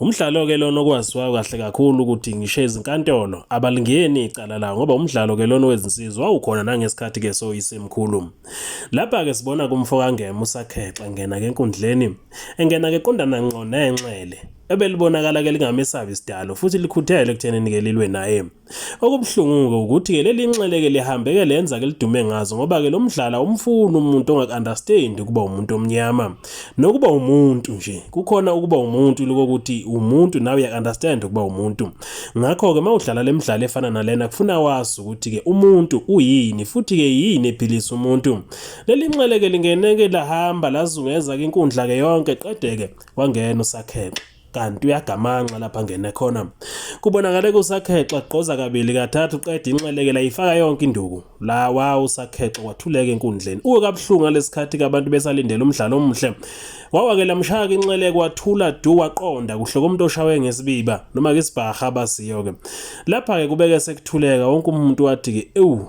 Umdlalo-ke lona okwaziwayo kahle kakhulu ukuthi ngisho izinkantolo abalingeni icala lawo ngoba umdlalo-ke lona wezinsizwa wawukhona nangesikhathi-ke soyisemkhulu. Lapha-ke sibona kumfokangema usakhexa ngena-ke enkundleni engena-ke qondana ngqo nenxele ebelibonakala-ke lingamesabi isidalo futhi likhuthele ekuthenini-ke lilwe naye. Okubuhlungu-ke ukuthi-ke leli nxele-ke lihambe-ke lenza-ke lidume ngazo ngoba-ke lo mdlalo awumfuni umuntu ongaku-understand ukuba umuntu omnyama nokuba umuntu nje kukhona ukuba umuntu lokokuthi umuntu nawe uyaku-understand ukuba umuntu ngakho-ke uma udlala le midlalo efana nalena kufuna wazi ukuthi-ke umuntu uyini futhi-ke yini ephilisa umuntu leli nxele-ke lingene-ke lahamba lazungeza-ke inkundla-ke yonke qede-ke wangena usakhele kanti uyagamanxa lapha ngene khona kubonakale kusakhexa gqoza kabili kathathu qeda inxelekela ifaka yonke induku la wa usakhexa wathuleka enkundleni uwe kabuhlungu ngalesikhathi kabantu besalindele umdlalo omuhle wawakela mshaka inxeleke wathula du waqonda kuhle komuntu oshawe ngesibiba noma ke isibhaha basiyo ke lapha ke kubeke sekuthuleka wonke umuntu wathi ke ewu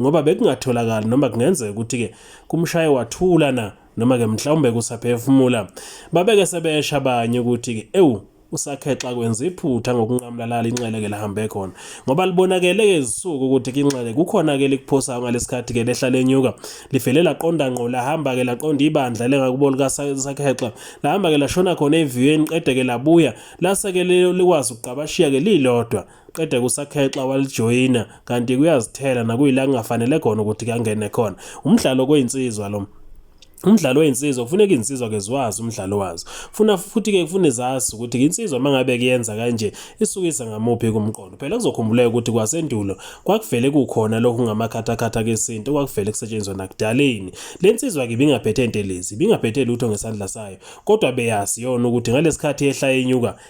ngoba bekungatholakali noma kungenzeka ukuthi-ke kumshaye wathula na noma ke mhlawumbe kusaphefumula babeke sebesha abanye ukuthi ke ewu usakhexa kwenza iphutha ngokunqamlalala inxele ke lahambe khona ngoba libonakele ke izisuku ukuthi kinxele kukhona ke likuphosayo ngalesikhathi ke lehla lenyuka livele laqonda ngqo lahamba ke laqonda ibandla lengakubo lika sakhexa lahamba ke lashona khona eviweni qede ke labuya lase ke likwazi ukuqabashiya ke lilodwa qede kusakhexa walijoyina kanti kuyazithela nakuyila kungafanele khona ukuthi kangene khona umdlalo koyinsizwa lo umdlalo weyinsizwa kufuneka izinsizwa ke ziwazi umdlalo wazo funa futhi ke kufune zazi ukuthi insizwa mangabe kuyenza kanje isukisa ngamuphi kumqondo phela kuzokhumbuleka ukuthi kwasendulo kwakuvele kukhona lokhu ngamakhathakhatha kesintu kwakuvele kusetshenzwa nakudaleni lensizwa ke bingaphethe intelezi bingaphethe lutho ngesandla sayo kodwa beyazi yona ukuthi ngalesikhathi ehla yenyuka